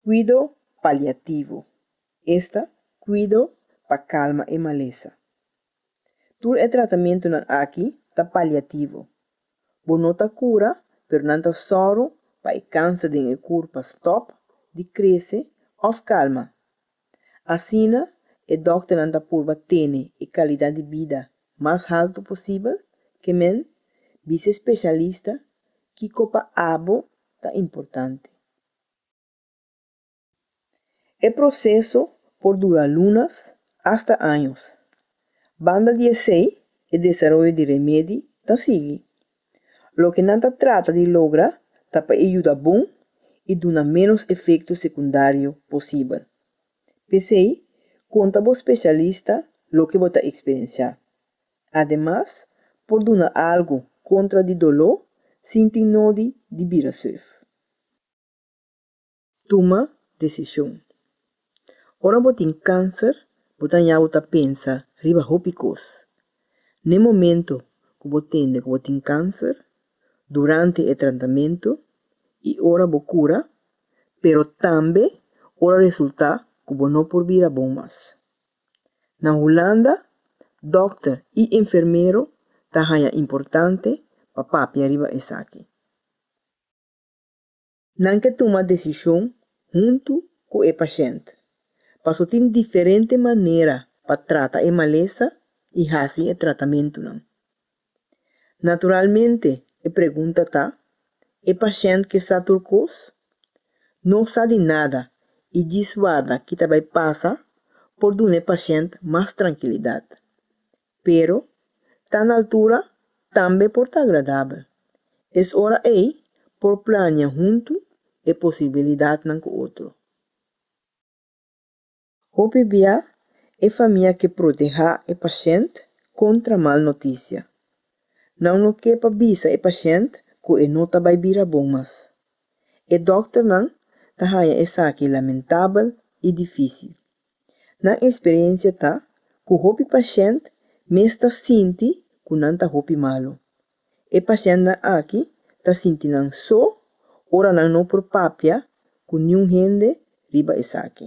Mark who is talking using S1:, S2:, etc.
S1: Kuido paliativo, esta kuido pa kalma e malesa. Tur e tratamentunan aki ta paliativo, bo no ta kura pero nan ta sòru pa e kansa den e kurpa stòp di krese òf kalma. Asina e dòkternan ta purba tene e kalidat di bida mas haltu posibel, ke men, bisa e speshalista kiko pa abo ta importante. E proseso por dura lunas asta años. Banda di esei, e desaroyo di remedi ta sigui, Loke nan ta trata di logra ta pa e yuda bon i duna ménos efekto sekundario posibel. P'esei, konta bo spesialista loke bo ta eksperensiá. Ademas, por duna algu kontra di doló sin tin nodi di bira surf. Tuma desishon. Ora bo tin kanser, bo ta haña bo ta pensa riba hopi kos. Na e momentu ku bo tende ku bo tin kanser, durante e tratamentu i ora bo kura, pero tambe ora resultá ku bo no por bira bon mas. Na Hulanda, dòkter i enfermero ta haña importante pa papia riba esaki. Nan ke tuma desishon huntu ku e pashènt, paso tin diferente manera pa trata e malesa i hasi e tratamentunan. Naturalmente e pregunta ta, E pashènt ke sa tur kos? No sa di nada i djis warda ki ta bai pasa por duna e pashènt mas trankilidat. pero ta na altura tambe por ta agradabel. Es ora ei por plania huntu e posibilidatnan ku otro. Hopi bia e famia ke protehá e pashènt kontra mal notisia. Nan lo ke pa bisa e pashènt ku e no ta bai bira bon mas. E dòkternan ta haña esaki lamentabel i difísil. Nan eksperensia ta ku hopi pashènt mes ta sinti ku nan ta hopi malu. E pashèntnan aki ta sinti nan so ora nan no por papia ku niun hende riba esaki.